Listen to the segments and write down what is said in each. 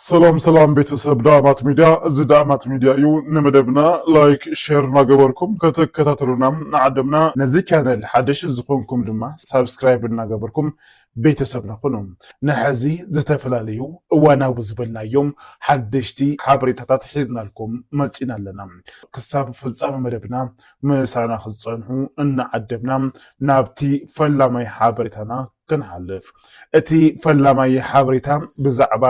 ሰላም ሰላም ቤተሰብ ዳእማት ሚድያ፣ እዚ ዳእማት ሚድያ እዩ። ንመደብና ላይክ ሼር እናገበርኩም ከተከታተሉና ንዓደምና። ነዚ ቻነል ሓደሽ ዝኾንኩም ድማ ሳብስክራይብ እናገበርኩም ቤተሰብና ኩኑ። ንሐዚ ዝተፈላለዩ እዋናዊ ዝበልናዮም ሓደሽቲ ሓበሬታታት ሒዝናልኩም መፂና ኣለና። ክሳብ ፍፃመ መደብና ምሳና ክትጸንሑ እናዓደምና ናብቲ ፈላማይ ሓበሬታና ክንሓልፍ። እቲ ፈላማይ ሓበሬታ ብዛዕባ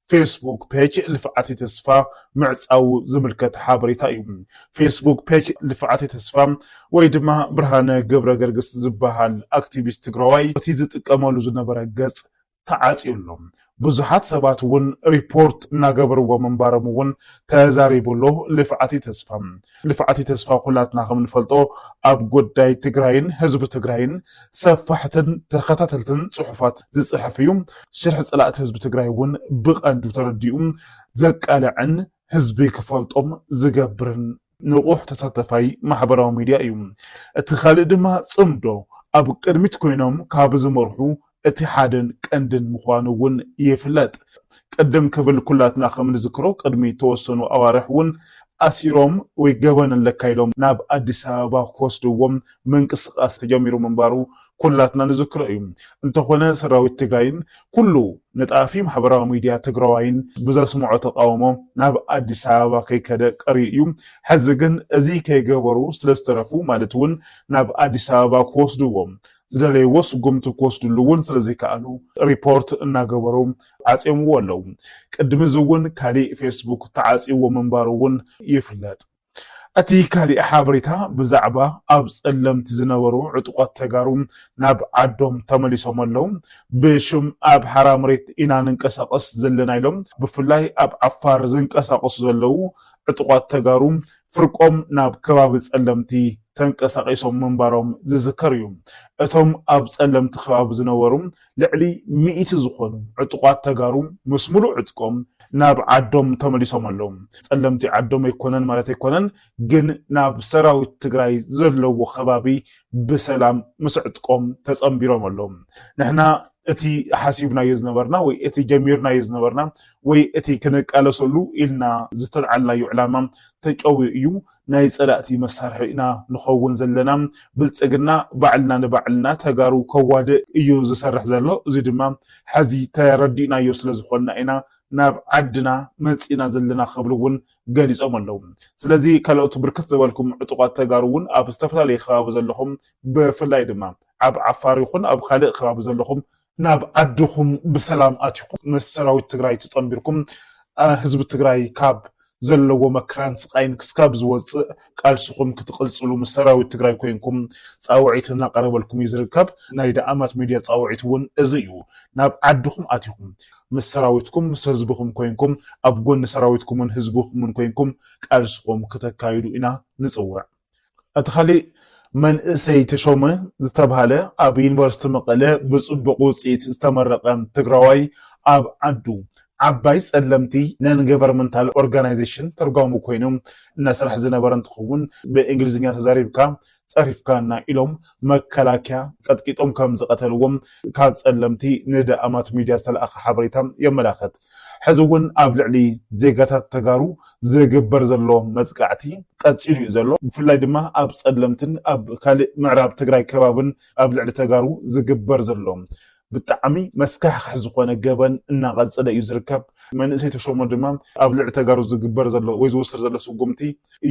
ፌስቡክ ፔጅ ልፍዓተይ ተስፋ ምዕጻዉ ዝምልከት ሓበሬታ እዩ። ፌስቡክ ፔጅ ልፍዓተይ ተስፋ ወይ ድማ ብርሃነ ገብረገርግስ ዝበሃል ኣክቲቪስት ትግራዋይ እቲ ዝጥቀመሉ ዝነበረ ገጽ ተዓፅዩ ኣሎ። ብዙሓት ሰባት እውን ሪፖርት እናገበርዎ ምንባሮም እውን ተዛሪቡ ኣሎ ልፍዓቲ ተስፋ። ልፍዓቲ ተስፋ ኩላትና ከምንፈልጦ ኣብ ጉዳይ ትግራይን ህዝቢ ትግራይን ሰፋሕትን ተኸታተልትን ፅሑፋት ዝፅሕፍ እዩ። ሽርሒ ፀላእቲ ህዝቢ ትግራይ እውን ብቐንዱ ተረዲኡ ዘቃልዕን ህዝቢ ክፈልጦም ዝገብርን ንቑሕ ተሳታፋይ ማሕበራዊ ሚድያ እዩ። እቲ ካልእ ድማ ጽምዶ ኣብ ቅድሚት ኮይኖም ካብ ዝመርሑ እቲ ሓደን ቀንድን ምዃኑ እውን ይፍለጥ። ቅድም ክብል ኩላትና ከም ንዝክሮ ቅድሚ ተወሰኑ ኣዋርሕ እውን ኣሲሮም ወይ ገበን ኣለካ ኢሎም ናብ ኣዲስ ኣበባ ክወስድዎም ምንቅስቓስ ተጀሚሩ ምንባሩ ኩላትና ንዝክሮ እዩ። እንተኾነ ሰራዊት ትግራይን ኩሉ ነጣፊ ማሕበራዊ ሚድያ ትግራዋይን ብዘስምዖ ተቓውሞ ናብ ኣዲስ ኣበባ ከይከደ ቀርዩ እዩ። ሕዚ ግን እዚ ከይገበሩ ስለዝተረፉ ማለት እውን ናብ ኣዲስ ኣበባ ክወስድዎ ዝደለይዎ ስጉምቲ ክወስድሉ እውን ስለዘይከኣሉ ሪፖርት እናገበሩ ዓፅዮምዎ ኣለው። ቅድሚ እዚ እውን ካሊእ ፌስቡክ ተዓፅይዎ ምንባሩ እውን ይፍለጥ። እቲ ካሊእ ሓበሬታ ብዛዕባ ኣብ ፀለምቲ ዝነበሩ ዕጡቋት ተጋሩ ናብ ዓዶም ተመሊሶም ኣለው ብሽም ኣብ ሓራ መሬት ኢና ንንቀሳቀስ ዘለና ኢሎም ብፍላይ ኣብ ዓፋር ዝንቀሳቀሱ ዘለው ዕጡቋት ተጋሩ ፍርቆም ናብ ከባቢ ፀለምቲ ተንቀሳቂሶም ምንባሮም ዝዝከር እዩ እቶም ኣብ ፀለምቲ ከባቢ ዝነበሩ ልዕሊ ሚእቲ ዝኾኑ ዕጡቓት ተጋሩ ምስ ሙሉእ ዕጥቆም ናብ ዓዶም ተመሊሶም ኣለው። ፀለምቲ ዓዶም ኣይኮነን ማለት ኣይኮነን ግን ናብ ሰራዊት ትግራይ ዘለዎ ከባቢ ብሰላም ምስ ዕጥቆም ተፀምቢሮም ኣለው። ንሕና እቲ ሓሲብናዮ ዝነበርና ወይ እቲ ጀሚርናዮ ዝነበርና ወይ እቲ ክንቃለሰሉ ኢልና ዝተልዓልናዮ ዕላማ ተጨውዩ እዩ። ናይ ፀላእቲ መሳርሒ ኢና ንኸውን ዘለና ብልፅግና ባዕልና ንባዕልና ተጋሩ ከዋድእ እዩ ዝሰርሕ ዘሎ እዙይ ድማ ሐዚ ተረዲእናዮ ስለዝኾንና ኢና ናብ ዓድና መፂእና ዘለና ክብሉ እውን ገሊፆም ኣለው ስለዚ ካልኦት ብርክት ዝበልኩም ዕጡቓት ተጋሩ እውን ኣብ ዝተፈላለየ ከባቢ ዘለኹም ብፍላይ ድማ ኣብ ዓፋር ይኹን ኣብ ኻሊእ ከባቢ ዘለኹም ናብ ዓድኹም ብሰላም ኣቲኹም ምስ ሰራዊት ትግራይ ተጸንቢርኩም ህዝቢ ትግራይ ካብ ዘለዎ መከራን ስቓይን ክስካብ ዝወጽእ ቃልስኹም ክትቕጽሉ ምስ ሰራዊት ትግራይ ኮይንኩም ጻውዒት እናቐረበልኩም እዩ ዝርከብ። ናይ ደኣማት ሚድያ ጻውዒት እውን እዚ እዩ። ናብ ዓድኹም ኣቲኹም ምስ ሰራዊትኩም ምስ ህዝብኹም ኮይንኩም ኣብ ጎኒ ሰራዊትኩምን ህዝብኹምን ኮይንኩም ቃልስኹም ክተካይዱ ኢና ንጽውዕ። እቲ ካሊእ መንእሰይ ተሾመ ዝተብሃለ ኣብ ዩኒቨርስቲ መቐለ ብፅቡቕ ውፅኢት ዝተመረቐ ትግራዋይ ኣብ ዓዱ ዓባይ ፀለምቲ ነን ገቨርመንታል ኦርጋናይዜሽን ተርጓሚ ኮይኑ እናሰርሐ ዝነበረ እንትኸውን ብእንግሊዝኛ ተዛሪብካ ፀሪፍካና ኢሎም መከላከያ ቀጥቂጦም ከምዝቐተልዎም ካብ ፀለምቲ ንዳኣማት ሚድያ ዝተልኣኸ ሓበሬታ የመላኽት። ሕዚ እውን ኣብ ልዕሊ ዜጋታት ተጋሩ ዝግበር ዘሎ መጥቃዕቲ ቀፂሉ እዩ ዘሎ። ብፍላይ ድማ ኣብ ፀለምትን ኣብ ካሊእ ምዕራብ ትግራይ ከባብን ኣብ ልዕሊ ተጋሩ ዝግበር ዘሎ ብጣዕሚ መስካሕኽሕ ዝኾነ ገበን እናቐፀለ እዩ ዝርከብ። መንእሰይ ተሾመ ድማ ኣብ ልዕሊ ተጋሩ ዝግበር ዘሎ ወይ ዝወሰድ ዘሎ ስጉምቲ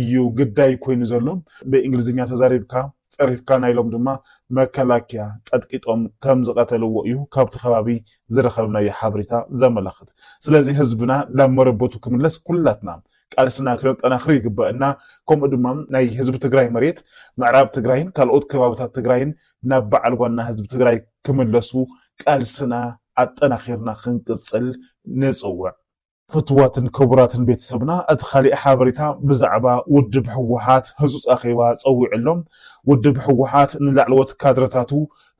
እዩ ግዳይ ኮይኑ ዘሎ። ብእንግሊዝኛ ተዛሪብካ ጸሪፍካና ኢሎም ድማ መከላኪያ ቀጥቂጦም ከም ዝቀተልዎ እዩ ካብቲ ከባቢ ዝረከብናዮ ሓበሬታ ዘመላክት። ስለዚ ህዝብና ናብ መረበቱ ክምለስ ኩላትና ቃልስና ክነጠናክር ይግበእና ከምኡ ድማ ናይ ህዝቢ ትግራይ መሬት ምዕራብ ትግራይን ካልኦት ከባብታት ትግራይን ናብ በዓል ዋና ህዝቢ ትግራይ ክምለሱ ቃልስና ኣጠናኪርና ክንቅጽል ንጽውዕ። ፍቱዋትን ክቡራትን ቤተሰብና እቲ ካሊእ ሓበሬታ ብዛዕባ ውድብ ህወሓት ህፁፅ ኣኼባ ፀዊዑ ኣሎ። ውድብ ህወሓት ንላዕለዎት ካድረታቱ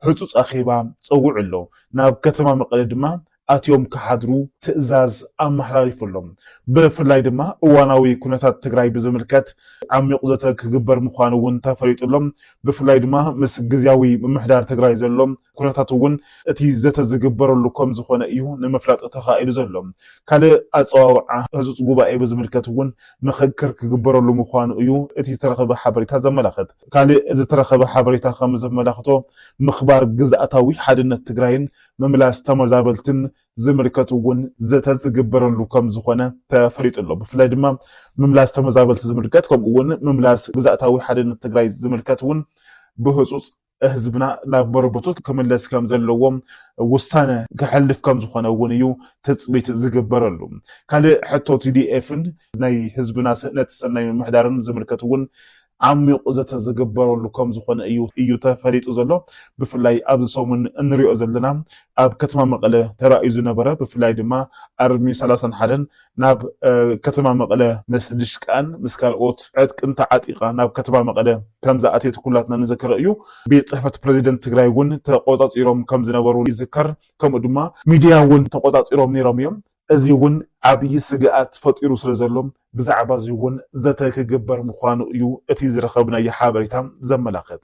ህፁፅ ኣኼባ ፀዊዑ ኣሎ። ናብ ከተማ መቐለ ድማ ኣትዮም ክሓድሩ ትእዛዝ ኣመሓላሊፉ ኣሎ። ብፍላይ ድማ እዋናዊ ኩነታት ትግራይ ብዝምልከት ዓሚቝ ዘተ ክግበር ምዃኑ እውን ተፈሊጡ ኣሎ። ብፍላይ ድማ ምስ ግዝያዊ ምምሕዳር ትግራይ ዘሎም ኩነታት እውን እቲ ዘተ ዝግበረሉ ከምዝኾነ እዩ ንምፍላጥ ተኻኢሉ ዘሎ። ካልእ ኣፀዋውዓ ህፁፅ ጉባኤ ብዝምልከት እውን ምኽክር ክግበረሉ ምዃኑ እዩ እቲ ዝተረኸበ ሓበሬታ ዘመላኽት። ካልእ ዝተረኸበ ሓበሬታ ከምዘመላኽቶ ምኽባር ግዝኣታዊ ሓድነት ትግራይን ምምላስ ተመዛበልትን ዝምልከት እውን ዘተ ዝግበረሉ ከምዝኾነ ተፈሊጡ ኣሎ። ብፍላይ ድማ ምምላስ ተመዛበልቲ ዝምልከት ከምኡ እውን ምምላስ ግዝኣታዊ ሓድነት ትግራይ ዝምልከት እውን ብህፁፅ ህዝብና ናብ መረበቱ ክምለስ ከም ዘለዎ ውሳነ ከሕልፍ ከም ዝኾነ እውን እዩ ትፅቢት ዝግበረሉ። ካልእ ሕቶ tdf ን ናይ ህዝብና ስእነት ሰናይ ምምሕዳርን ዝምልከት እውን ዓሚቝ ዘተ ዝግበረሉ ከም ዝኾነ እዩ እዩ ተፈሊጡ ዘሎ። ብፍላይ ኣብዚ ሰሙን እንሪኦ ዘለና ኣብ ከተማ መቐለ ተራእዩ ዝነበረ ብፍላይ ድማ ኣርሚ ሰላሳን ሓደን ናብ ከተማ መቐለ ምስ ድሽቃን ምስ ካልኦት ዕጥቅን ተዓጢቓ ናብ ከተማ መቐለ ከም ዝኣተየት ኩላትና ንዘክረ እዩ። ቤት ፅሕፈት ፕረዚደንት ትግራይ እውን ተቖፃፂሮም ከም ዝነበሩ ይዝከር። ከምኡ ድማ ሚድያ እውን ተቖፃፂሮም ነይሮም እዮም። እዚ እውን ዓብዪ ስግኣት ፈጢሩ ስለ ዘሎ ብዛዕባ እዚ እውን ዘተ ክግበር ምዃኑ እዩ እቲ ዝረኸብናዮ ሓበሬታ ዘመላኽት።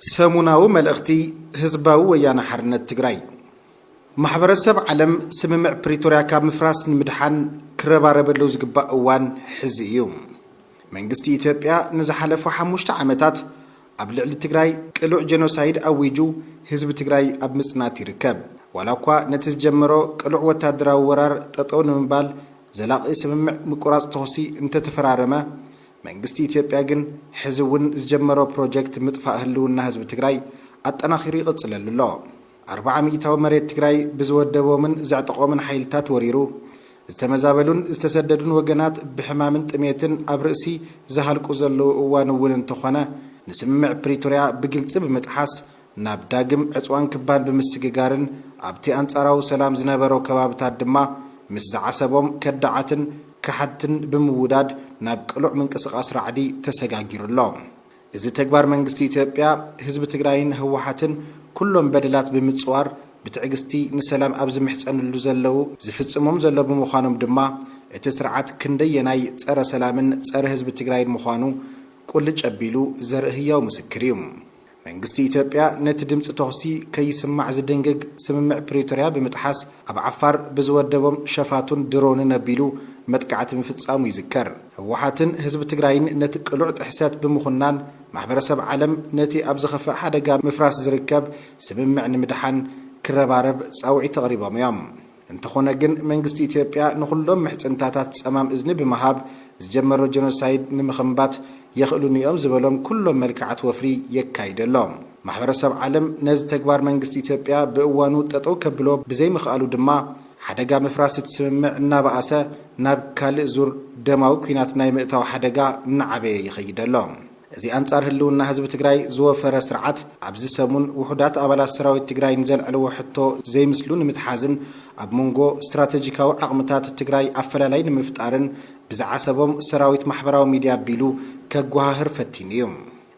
ሰሙናዊ መልእኽቲ ህዝባዊ ወያነ ሓርነት ትግራይ፣ ማሕበረሰብ ዓለም ስምምዕ ፕሪቶርያ ካብ ምፍራስ ንምድሓን ክረባረበሉ ዝግባእ እዋን ሕዚ እዩ። መንግስቲ ኢትዮጵያ ንዝሓለፉ ሓሙሽተ ዓመታት ኣብ ልዕሊ ትግራይ ቅሉዕ ጀኖሳይድ ኣዊጁ ህዝቢ ትግራይ ኣብ ምፅናት ይርከብ። ዋላ እኳ ነቲ ዝጀመሮ ቅሉዕ ወታደራዊ ወራር ጠጠው ንምባል ዘላቒ ስምምዕ ምቁራፅ ተኹሲ እንተተፈራረመ፣ መንግስቲ ኢትዮጵያ ግን ሕዚ እውን ዝጀመሮ ፕሮጀክት ምጥፋእ ህልውና ህዝቢ ትግራይ ኣጠናኺሩ ይቕፅለሉ ኣሎ። ኣርብዓ ሚኢታዊ መሬት ትግራይ ብዝወደቦምን ዘዕጠቖምን ሓይልታት ወሪሩ፣ ዝተመዛበሉን ዝተሰደዱን ወገናት ብሕማምን ጥሜትን ኣብ ርእሲ ዝሃልቁ ዘለዉ እዋን እውን እንተኾነ ንስምምዕ ፕሪቶርያ ብግልፂ ብምጥሓስ ናብ ዳግም ዕጽዋን ክባን ብምስግጋርን ኣብቲ ኣንጻራዊ ሰላም ዝነበሮ ከባብታት ድማ ምስ ዝዓሰቦም ከዳዓትን ከሓድትን ብምውዳድ ናብ ቅሉዕ ምንቅስቓስ ራዕዲ ተሰጋጊሩ ኣሎ። እዚ ተግባር መንግስቲ ኢትዮጵያ፣ ህዝቢ ትግራይን ህወሓትን ኩሎም በደላት ብምጽዋር ብትዕግስቲ ንሰላም ኣብ ዝምሕጸንሉ ዘለዉ ዝፍጽሞም ዘሎ ብምዃኖም ድማ እቲ ስርዓት ክንደየናይ ጸረ ሰላምን ጸረ ህዝቢ ትግራይን ምዃኑ ቁልጭ ኣቢሉ ዘርኢ ህያው ምስክር እዩ። መንግስቲ ኢትዮጵያ ነቲ ድምጺ ተኹሲ ከይስማዕ ዝድንግግ ስምምዕ ፕሪቶርያ ብምጥሓስ ኣብ ዓፋር ብዝወደቦም ሸፋቱን ድሮንን ኣቢሉ መጥቃዕቲ ምፍጻሙ ይዝከር። ህወሓትን ህዝቢ ትግራይን ነቲ ቅሉዕ ጥሕሰት ብምኹናን ማሕበረሰብ ዓለም ነቲ ኣብ ዝኸፍእ ሓደጋ ምፍራስ ዝርከብ ስምምዕ ንምድሓን ክረባረብ ጻውዒት ኣቕሪቦም እዮም። እንተኾነ ግን መንግስቲ ኢትዮጵያ ንኹሎም ምሕጽንታታት ጸማም እዝኒ ብምሃብ ዝጀመሮ ጀኖሳይድ ንምኽምባት የኽእሉኒ'ዮም ዝበሎም ኩሎም መልክዓት ወፍሪ የካይድ ኣሎ። ማሕበረሰብ ዓለም ነዚ ተግባር መንግስቲ ኢትዮጵያ ብእዋኑ ጠጠው ከብሎ ብዘይምኽኣሉ ድማ ሓደጋ ምፍራስ እቲ ስምምዕ እናበኣሰ ናብ ካልእ ዙር ደማዊ ኲናት ናይ ምእታው ሓደጋ እናዓበየ ይኸይድ ኣሎ። እዚ ኣንፃር ህልውና ህዝቢ ትግራይ ዝወፈረ ስርዓት ኣብዚ ሰሙን ውሑዳት ኣባላት ሰራዊት ትግራይ ንዘልዐልዎ ሕቶ ዘይምስሉ ንምትሓዝን ኣብ ሞንጎ ስትራተጂካዊ ዓቕምታት ትግራይ ኣፈላላይ ንምፍጣርን ብዝዓሰቦም ሰራዊት ማሕበራዊ ሚድያ ኣቢሉ ከጓሃህር ፈቲኑ እዩ።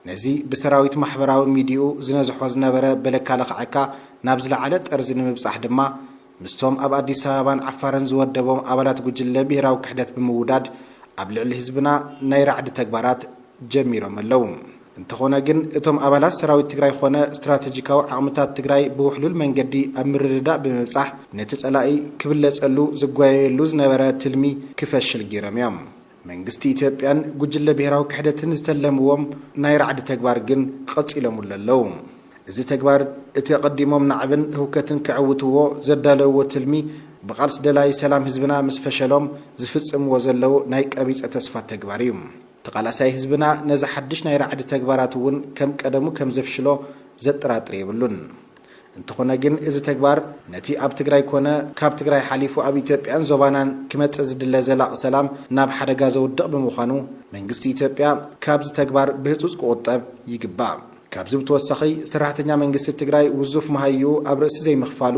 ነዚ ብሰራዊት ማሕበራዊ ሚድይኡ ዝነዝሖ ዝነበረ በለካ ልኽዐካ ናብ ዝለዓለ ጠርዚ ንምብፃሕ ድማ፣ ምስቶም ኣብ ኣዲስ ኣበባን ዓፋርን ዝወደቦም ኣባላት ጉጅለ ብሄራዊ ክሕደት ብምውዳድ ኣብ ልዕሊ ህዝብና ናይ ራዕዲ ተግባራት ጀሚሮም ኣለው። እንተኾነ ግን እቶም ኣባላት ሰራዊት ትግራይ ኾነ ስትራተጂካዊ ዓቕምታት ትግራይ ብውሕሉል መንገዲ ኣብ ምርድዳእ ብምብፃሕ ነቲ ፀላኢ ክብለፀሉ ዝጓየየሉ ዝነበረ ትልሚ ክፈሽል ገይሮም እዮም። መንግስቲ ኢትዮጵያን ጉጅለ ብሄራዊ ክሕደትን ዝተለምዎም ናይ ራዕዲ ተግባር ግን ቐፂሎምሉ ኣለዉ። እዚ ተግባር እቲ ኣቐዲሞም ናዕብን ህውከትን ከዕውትዎ ዘዳለውዎ ትልሚ ብቓልሲ ደላዪ ሰላም ህዝብና ምስ ፈሸሎም ዝፍፅምዎ ዘለዉ ናይ ቀቢፀ ተስፋ ተግባር እዩ። ተቓላሳይ ህዝብና ነዚ ሓዱሽ ናይ ራዕዲ ተግባራት እውን ከም ቀደሙ ከም ዘፍሽሎ ዘጠራጥር የብሉን። እንተኾነ ግን እዚ ተግባር ነቲ ኣብ ትግራይ ኮነ ካብ ትግራይ ሓሊፉ ኣብ ኢትዮጵያን ዞባናን ክመፅእ ዝድለ ዘላቒ ሰላም ናብ ሓደጋ ዘውድቕ ብምዃኑ መንግስቲ ኢትዮጵያ ካብዚ ተግባር ብህፁፅ ክቑጠብ ይግባእ። ካብዚ ብተወሳኺ ሰራሕተኛ መንግስቲ ትግራይ ውዙፍ መሃይኡ ኣብ ርእሲ ዘይምኽፋሉ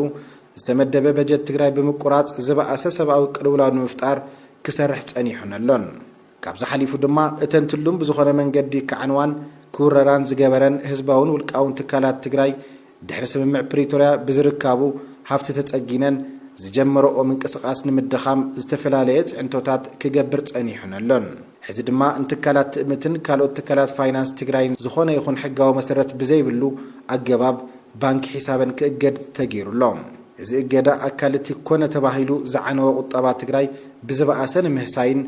ዝተመደበ በጀት ትግራይ ብምቁራፅ ዝበኣሰ ሰብኣዊ ቅልውላው ንምፍጣር ክሰርሕ ፀኒሑን ኣሎን። ካብዚ ሓሊፉ ድማ እተን ትሉም ብዝኾነ መንገዲ ክዓንዋን ክውረራን ዝገበረን ህዝባውን ውልቃውን ትካላት ትግራይ ድሕሪ ስምምዕ ፕሪቶርያ ብዝርካቡ ሃፍቲ ተፀጊነን ዝጀመረኦ ምንቅስቓስ ንምድኻም ዝተፈላለየ ፅዕንቶታት ክገብር ፀኒሑን ኣሎን። ሕዚ ድማ ንትካላት ትእምትን ካልኦት ትካላት ፋይናንስ ትግራይን ዝኾነ ይኹን ሕጋዊ መሰረት ብዘይብሉ ኣገባብ ባንኪ ሒሳበን ክእገድ ተገይሩ ኣሎ። እዚ እገዳ ኣካል እቲ ኮነ ተባሂሉ ዝዓነወ ቁጠባ ትግራይ ብዝበኣሰ ንምህሳይን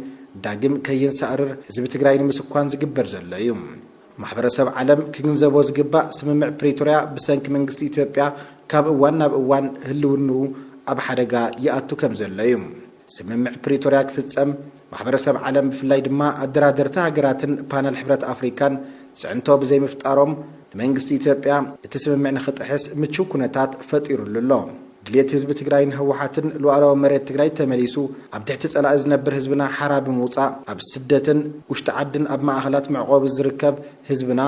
ዳግም ከይንሳእርር ህዝቢ ትግራይ ንምስኳን ዝግበር ዘሎ እዩ። ማሕበረሰብ ዓለም ክግንዘቦ ዝግባእ ስምምዕ ፕሪቶርያ ብሰንኪ መንግስቲ ኢትዮጵያ ካብ እዋን ናብ እዋን ህልውንኡ ኣብ ሓደጋ ይኣቱ ከም ዘሎ እዩ። ስምምዕ ፕሪቶርያ ክፍፀም ማሕበረሰብ ዓለም ብፍላይ ድማ ኣደራደርቲ ሃገራትን ፓነል ሕብረት ኣፍሪካን ፅዕንቶ ብዘይምፍጣሮም ንመንግስቲ ኢትዮጵያ እቲ ስምምዕ ንክጥሕስ ምችው ኩነታት ፈጢሩሉ ኣሎ። ድሌት ህዝቢ ትግራይን ህወሓትን ሉኣላዊ መሬት ትግራይ ተመሊሱ ኣብ ትሕቲ ፀላኢ ዝነብር ህዝብና ሓራ ብምውፃእ ኣብ ስደትን ውሽጢ ዓድን ኣብ ማእኸላት መዕቖቢ ዝርከብ ህዝብና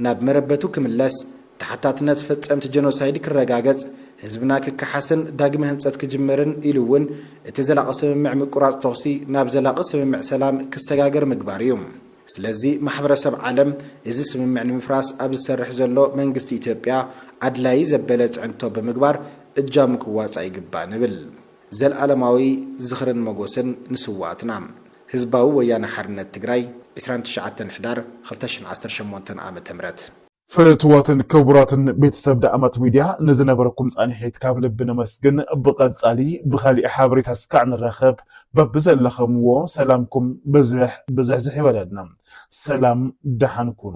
ናብ መረበቱ ክምለስ፣ ተሓታትነት ፈፀምቲ ጀኖሳይድ ክረጋገፅ፣ ህዝብና ክከሓስን ዳግመ ህንፀት ክጅመርን ኢሉ እውን እቲ ዘላቒ ስምምዕ ምቁራፅ ተኹሲ ናብ ዘላቒ ስምምዕ ሰላም ክሰጋገር ምግባር እዩ። ስለዚ ማሕበረሰብ ዓለም እዚ ስምምዕ ንምፍራስ ኣብ ዝሰርሕ ዘሎ መንግስቲ ኢትዮጵያ ኣድላዪ ዘበለ ፅዕንቶ ብምግባር እጃሙ ክዋፃእ ይግባእ ንብል። ዘልኣለማዊ ዝኽርን ሞጎስን ንስውኣትና! ህዝባዊ ወያነ ሓርነት ትግራይ፣ ዕስራን ትሽዓተን ሕዳር ክልተ ሽሕን ዓሰርተ ሸሞንተን ዓ.ም። ፍትዋትን ክቡራትን ቤተሰብ ደኣመት ሚድያ ንዝነበረኩም ፃኒሒት ካብ ልቢ ነመስግን ብቀፃሊ ብካሊእ ሓበሬታ እስካዕ ንራከብ በብዘለከምዎ ሰላምኩም ብዝሕ ብዝሕዝሕ ይበለልና ሰላም ደሓን ኩኑ።